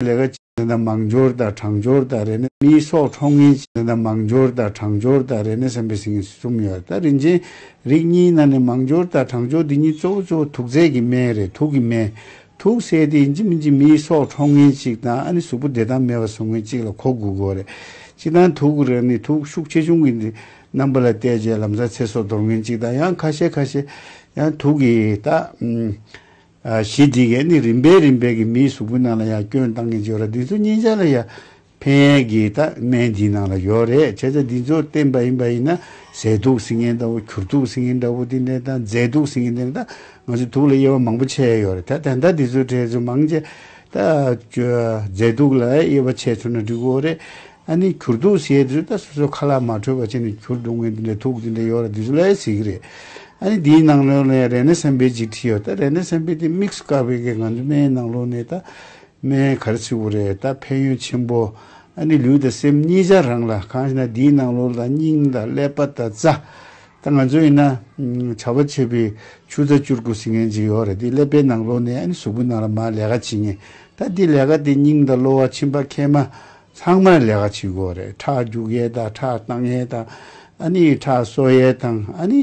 ལས་ཀ་བྱེད་ན་མང་འབྱོར་དང་གྲང་འབྱོར་དང་རེ་ན་མིའི་སྲོག་འཕྲོག་ངན་བྱེད་ན་མང་འབྱོར་དང་གྲང་འབྱོར་དང་རེ་ན་སེམས་པའི་ཟིང་གསུམ་ཡོད་ད་རིན་ཆེན་རིགས་གཉིས་ནང་ནས་མང་འབྱོར་དང་གྲང་འབྱོར་འདི་གཉིས་གཙོ་བོ་གཙོ་བོ་དུག་རྫས་ཀྱི་སྨན་རེད་དུག་གི་སྨན། དུག་སེལ་དེ་ཡིན་གཅིག་མིན་གཅིག་མིའི་སྲོག་འཕྲོག་ངན་གཅིག་དང་ཨ་ནི་གཟུགས་པོ་བདེ་ཐང་མེད་པ་ཟུག་ངན་གཅིག་ལ་གོ་དགོས་དགོས་རེད། གཅིག་དང་དུག་རེ་ནི་དུག་ཤུགས་ཆེ་ཆུང་གི་རྣམ་པ་ལ་བལྟས་རྗེས་ལམ་སང་ཚེ་སྲོག་འདོར་ངན་གཅིག་དང་ཡང་ཁ་ཤས་ཁ་ཤས་ཡང་དུག་གིས་ད། གཞི་འདི་གས་ནི་རིམ་པས་རིམ་པས་ཀྱི་མིའི་གཟུགས་པོའི་ནང་ལ་ཡང་སྐྱོན་བཏང་གིན་བྱོས་ར་འདི་ཚོ་གཉིས་ཆ་ལ་ཡང་ཕན་གྱི་ད་སྨན་འདིའི་ནང་ལ་ཡོད་རེད་བྱས་ཙ་འདི་ཚོ་བསྟེན་པ་ཡིན་པ་ཡིན་ན་ཟས་དུག་སྲིན་ངན་འདྲ་བོ་གུར་དུག་སྲིན་ངན་འདྲ་བོ་དེ་འདྲས་དང་རྫས་དུག་སྲིན་ངན་འདྲས་ད་ང་ཚོས་དུག་ལ་དབྱེ་བ་མང་པོ་ཕྱེ་ཡ་ཡོད་རེད་ད་ད་ལྟ་འདི་ཚོའི་གྲས་ཚོ་མང་ཆེ་ད་རྫས་དུག་ལ་དབྱེ་བ་ཕྱེ་ཚུར་ན་འགྲིག་གོ་རེད། ཨ་ནི་གྱུར་འདུག་ཟེར་དུས་ད་སོ་སོའི་ཁ་ལག་མ་འཁྲོལ་བ་བྱས་ནས་གྱུར་འདུག་ངས་འདི་འདྲའི་ཐུགས་འདི་འདྲའི་ཡོད་རེད་འདི་ཚོ་ལས་ཟེར་གྱི་རེད། ཨ་ནི་དེའི་ནང་ལོན་ལས་རེ་ནས་སེམས་པའི་ཅིག་ཁྲི་ཡོད་ད་རེ་ནས་སེམས་པའི་དེ་དམིགས་སུ་བཀར་བའི་གེ་ང་ཚོའི་སྨན་ནང་ལོན་ནས་ད་སྨན་ག་རེ་ཚིག་བོ་རེད་ད་ཕན་ཡོན་ཆེན་པོ། ཨ་ནི་ལུས་དང་སེམས་གཉིས་ཆ་རང་ལ་གང་ཞིག་ན་དེའི་ནང་ལོ་ལ་སྙིང་དང་ཀླད་པ་དང་རྩ། ད་ང་ཚོ་ཡིན་ན་བྱ་བ་བྱས་པའི་ཆུ་རྩ་བཅུར་གོ་ཟི་ངན་ཅིག་ཡོད་རེད་དེའི་ཀླད་པའི་ནང་ལོན་ནས་ཨ་ནི་གཟུགས་པོའི་ནང་ལ་མར་ལས་ཀ་བྱེད་ངེས་ད་དེའི་ལས་ཀ་དེ་སྙིང་དང་གློ་བ་མཆིན་པ་མཁལ་མ་ཚང་མ་ལས་ཀ་བྱེད་དགོས་རེད་ཁྲག་རྒྱུག་ཡས་དང་ཁྲག་བཏང་ཡས་དང་ཨ་ནི་ཁྲག་གསོ་ཡས་དང་ཨ་ནི་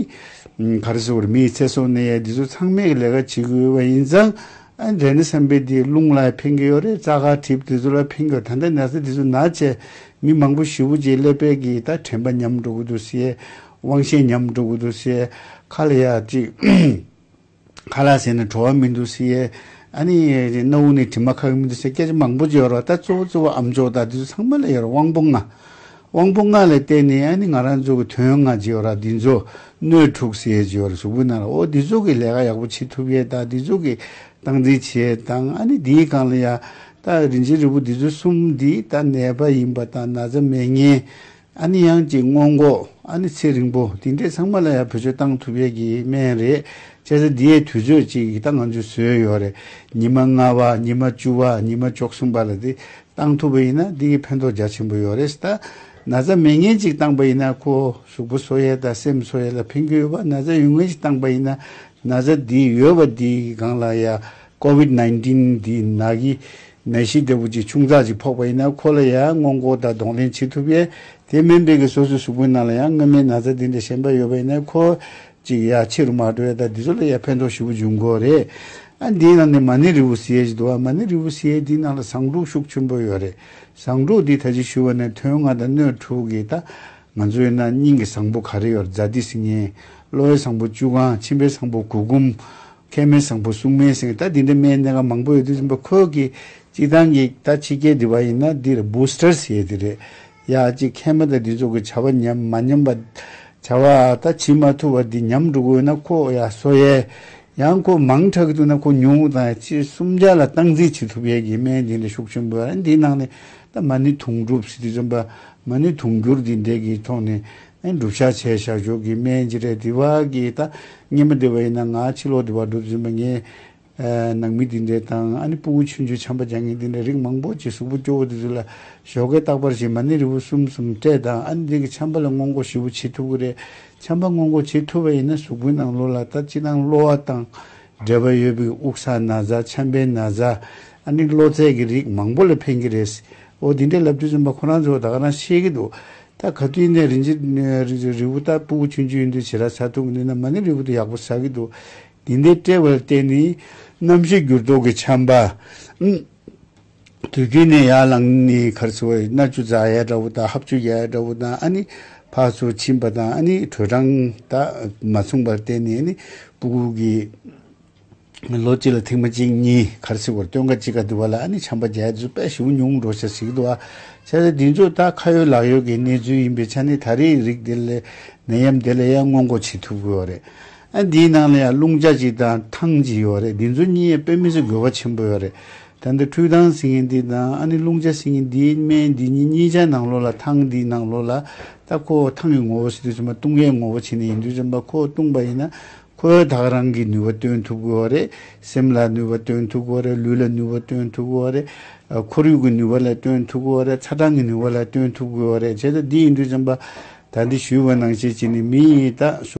ག་རེ་ཟེར་བར་མིའི་ཚེ་སྲོག་གནས་ཡས་འདི་ཚོ་ཚང་མས་ལས་ཀ་བྱེད་དགོས་བ་ཡིན་ཙང་ཨ་འདྲེ་ནི་བསམ་པའི་དེ་རླུང་ལ་ཕན་གི་ཡོད་རེད་རྩ་ཁ་གྲིབ་དེ་ཚོ་ལ་ཕན་གི་ཡོད་ད་ལྟ་ནད་ཚ་དེ་ཚོ་ན་བྱས་མི་མང་པོ་ཞི་བོ་བྱས་ཀླད་པད་ཀྱི་ད་དྲན་པ་ཉམས་འགྲོ་གི་འདུག་སེ། དབང་ཤེད་ཉམས་འགྲོ་གི་འདུག་སེ། ཁ་ལ་ཡ་ཅིག། ཁ་ལ་ཟས་ནི་བྲོ་བ་མི་འདུག་ཟེར། ཨ་ནི། སྣ་བུག་ནི་དྲི་མ་ཁ་བས་མི་འདུག་ཟེར་སྐད་ཆ་མང་པོ་བརྗོད་རོགས་ད་གཙོ་བོ་གཙོ་བོ་ཨམ་ཅོག་དང་དེ་ཚོ་ཚང་མ་ལས་ཡོད་རོགས་དབང་པོ་ལྔ། དབང་པོ་ལྔ་ལ་བརྟེན་ནས་ཨ་ནི་ང་རང་ཚོ་གི་དོན་ལྔ་བརྗོད་རོགས་འདི་ཚོ་སྣོད་དྲུག་ཟེར་བརྗོད་རོགས་གཟུགས་པོ་ན་རོ་འོ་འདི་ཚོ་གི་ལས་ཀ་ཡག་པོ་བྱེད་ཐུབ་ཡས་དང་འདི་ཚོ་གི་སྟངས་འཛིན་བྱེད་ཡས་དང་ཨ་ནི་འདིའི་སྒང་ལ་ཡ། ད་རིན་ཆེན་རི་བོ་འདི་ཚོ་གསུམ་འདི་ད་ནད་པ་ཡིན་པ་དང་ན་ཚ་མེད་ངན། ཨ་ནི་དབྱངས་ཀྱི་སྔོན་མགོ། ཨ་ནི་ཚེ་རིང་པོ། དེ་འདྲས་ཚང་མ་ལ་ཡང་བོད་ཆོས་གཏང་ཐུབ་ཡས་ཀྱི་སྨན་རེད། བྱས་ཙང་འདི་ཡའི་དུས་ཚོད་ཅིག་ད་ང་ཚོས་བཟོས་ཡོད་རེད། ཉི་མ་ལྔ་བ་ཉི་མ་བཅུ་བ་ཉི་མ་བཅོ་གསུམ་པ་ལ་དེ་གཏང་ཐུབ་པ་ཡིན་ན་འདི་གི་ཕན་ཐོག་རྒྱ་ཆེན་པོ་ཡོད་རེད་ད། ན་བཟའ་མི་ངན་ཅིག་གཏང་པ་ཡིན་ན་ཁོ་གཟུགས་པོ་སོ་ཡས་དང་སེམས་སོ་ཡས་ལ་ཕན་རྒྱུ་ཡོད་པ་ན་བཟའ་ཡུལ་ངན་ཅིག་གཏང་པ་ཡིན་ན་ན་བཟའ་འདི་ཡོད་པ་འདི་གི་སྒང་ལ་ཡ COVID-19 འདི་ནག་གི་ནད་གཞི་འདི་བོད་ཀྱི་ཁྱུང་ཙག་ཅིག་ཕོག་པ་ཡིན་ན་ཁོ་ལ་ཡང་སྔོན་འགོག་དང་གདོང་ལེན་བྱེད་ཐུབ་ཡས་དེ་སྨན་པས་ཀྱི་སོ་སོའི་གཟུགས་པོའི་ནང་ལ་ཡང་སྔོན་མའི་ན་ཚ་འདི་འདྲ་ཞན་པ་ཡོད་པ་ཡིན་ན་ཁོ་ཅིག་ཡ་ཕྱི་རུ་མ་འགྲོ་ཡས་དང་འདི་ཚོ་ལ་ཡ་ཕན་ཐོག་ཞི་བོ་འབྱུང་དགོས་རེད་ཨ་འདིའི་ནང་ནས་མ་ཎི་རི་བོ་སི་ཡས་ཅིག་འདུག་ཨ་མ་ཎི་རི་བོ་སི་ཡས་འདིའི་ནང་ལ་བཟང་དྲུག་ཤུགས་ཆེན་པོ་ཡོད་རེད་བཟང་དྲུག་འདི་ད་ཅིག་ཞུ་བ་ནས་ཐོན་ལྔ་དང་སྣོད་དྲུག་གིས་ད་ང་ཚོའི་ན་སྙིང་གི་བཟང་པོ་ག་རེ་ཡོད་རྫ་ཏི་སི་ཉེ་གློ་བའི་བཟང་པོ་བཅུ་གང་མཆིན་པའི་བཟང་པོ་གུ་གུམ། མཁལ་མའི་བཟང་པོ་སྲུང་མའི་སེང་ལྟ་འདི་འདྲའི་མའི་གནད་ཀ་མང་པོ་ཡོད་དུས་ཟིན་པ་ཁོ་གིས་གཅིག་ཐང་གིས་ད་ཕྱི་རྒྱལ་འདི་བ་ཡིན་ན་འདིར Booster བྱེད་དེ་རེད་ཡ་གཅིག་མཁལ་མ་ད་འདི་ཚོ་གི་བྱ་བ་ཉམས་མ་ཉམས་པ་བྱ་བ་ད་བྱེད་མ་ཐུབ་བ་འདི་ཉམས་འགྲོ་གི་ཡོད་ན་ཁོ་ཡ་བཟོ་ཡས་ཡང་ཁོ་མང་དྲག་གི་འདུག་ན་ཁོ་ཉུང་དང་ཡ་ཕྱི་གསུམ་བརྒྱ་ལ་སྟངས་འཛིན་བྱེད་ཐུབ་ཡས་གི་མའི་འདི་འདྲའི་ཤུགས་ཆེན་པོ་ཡ་འདི་ནང་ནས་ད་མ་ནི་དུང་སྒྲུབ་བྱེད་དུས་ཟིན་པ་མ་ནི་དུང་སྒྱུར་འདི་འདྲའི་གི་ཐོག་ནས་བསྒྲུབ་བྱ་བྱས་བྱ་ཆོས་ཀྱི་སྨན་གྱི་རས་འདི་བ་གི་ད་སྙེ་མ་འདི་བ་ཡིན་ན་ང་ཕྱི་ལོག་འདི་བ་སྒྲུབ་ཟིན་པ་ངའི་ནང་མི་འདི་འདྲས་དང་ཨ་ནི་སྤུ་བོ་ཆུ་འཇུ་བྱམས་པ་རྒྱ་ངན་འདི་འདྲས་རིགས་མང་པོ་ཅིག་གཟུགས་པོ་སྐྱོ་བོ་འདི་ཚོ་ལ་ཞོགས་ཀའི་རྟག་པར་བྱེད་མ་ནི་རི་བོ་གསུམ་གསུམ་སྤྲད་དང་ཨ་ནི་འདི་གི་བྱམས་པ་ལ་སྔོན་འགོག་ཞི་བོ་བྱེད་ཐུབ་གི་རེད་བྱམས་པ་སྔོན་འགོག་བྱེད་ཐུབ་བ་ཡིན་ན་གཟུགས་པོའི་ནང་ལོ་ལ་ད་ཅི་སྣང་གློ་བ་དང་འབྲེལ་བ་ཡོད་པའི་དབུགས་ས་ན་ཟ་ཆམ་པའི་ན་ཟ་ཨ་ནི་གློ་ཚད་ཀྱི་རིགས་མང་པོ་ལ་ཕན་གྱི་རེད་ཨོ་འདི་འདྲས་ལབ་རྒྱུ་ཟིན་པ་ཁོ་རང་ཚོ་ད་ག་རང་ཤེས་ཀྱི་འདུག་ད་ག་དུས་ནས་རིན་ཆེན་རི་བོ་ལྟར་སྤུ་གུ་ཆུང་ཆུང་ཡིན་དུས་བྱེད་ར་ཚར་ཐུག་གི་འདུག་ན་མ་ནི་རི་བོ་དེ་ཡག་པོ་ཟ་གི་འདུག་དེ་འདྲའི་དཔྲལ་བར་བལྟས་ནས། རྣམ་ཤེས་འགྱུར་ལྡོག་གི་ཆམ་པ། དུས་རྒྱུན་ནས་ཡར་ལངས་ནས་ཁར་སོ་བའི་མནར་གཅོད་རྫ་གཡའ་འདྲ་བོ་དང་ཧབ་ཆུ་གཡའ་འདྲ་བོ་དང་ཨ་ནི་ཕག་སོ་མཆིན་པ་དང་ཨ་ནི་དྲོད་གྲང་དག་མ་མཚུངས་པར་བལྟས་ནས་ཨ་ནི་སྤུ་གུ་གི། ལོ་གཅིག་ལ་ཐེངས་མ་གཅིག་གཉིས་གར་སིག་བར་སྟོན་ཀ་གཅིག་ག་འདུལ་བ་ལ་ཨ་ནི་བྱམས་པ་རྒྱལ་རྫུན་དཔེ་ཞིབ་ཉུང་འགྲོ་ཞེས་ཟིག་དུ་ཨ་བྱས་ཏེ་འདི་ཚོ་ད་ཁ་ཡོད་ལག་ཡོད་ཀྱི་གནས་ཚུལ་ཡིན་པའི་ཆ་ནས་ད་རེས་རིགས་དེ་ལས་ནད་ཡམས་དེ་ལ་ཡང་སྔོན་འགོག་བྱེད་ཐུབ་དགོས་བ་རེད་ཨ་འདིའི་ནང་ལ་ཡང་རླུང་ལྕག་ཅིག་དང་ཐང་ཅིག་ཡོད་བ་རེད་འདི་ཚོ་གཉིས་ཡང་དཔེ་མི་སྲིད་དགོས་བ་ཆེན་པོ་ཡོད་རེད་ད་འདི་འཕྲུལ་ཐང་ཟིག་ངེ་འདི་དང་ཨ་ནི་རླུང་ལྕག་ཟིག་ངེ་འདིའི་སྨན་འདི་གཉིས་གཉིས་ཆ་ནང་ལོགས་ལ་ཐང་འདིའི་ནང་ལོགས་ལ་ད་ཁོ་ཐང་གི་ངོ་བོ་སིདུ་བྱམས་པ་བཏུང་ཡས་ངོ་བོ་བྱེད་ནས་ཡིན་དུས་བྱམས་པ་ཁོ་བཏུང་བ་ཡིན་ན་ཁོས་བདག་རང་གི་ནུས་པ་སྟོན་ཐུབ་དགོས་བ་རེད། སེམས་ལ་ནུས་པ་སྟོན་ཐུབ་དགོས་བ་རེད། ལུས་ལ་ནུས་པ་སྟོན་ཐུབ་དགོས་བ་རེད། ཁོར་ཡུག་གི་ནུས་པ་ལ་སྟོན་ཐུབ་དགོས་བ་རེད། ཚ་གྲང་གི་ནུས་པ་ལ་སྟོན་ཐུབ་དགོས་བ་རེད། བྱས་ཙང་འདི་ཡིན་དུས་བྱམས་པ་ད་འདི་ཞུས་བ་ནང་བཤད་བྱས་ནས་མི་ཡིན་ད།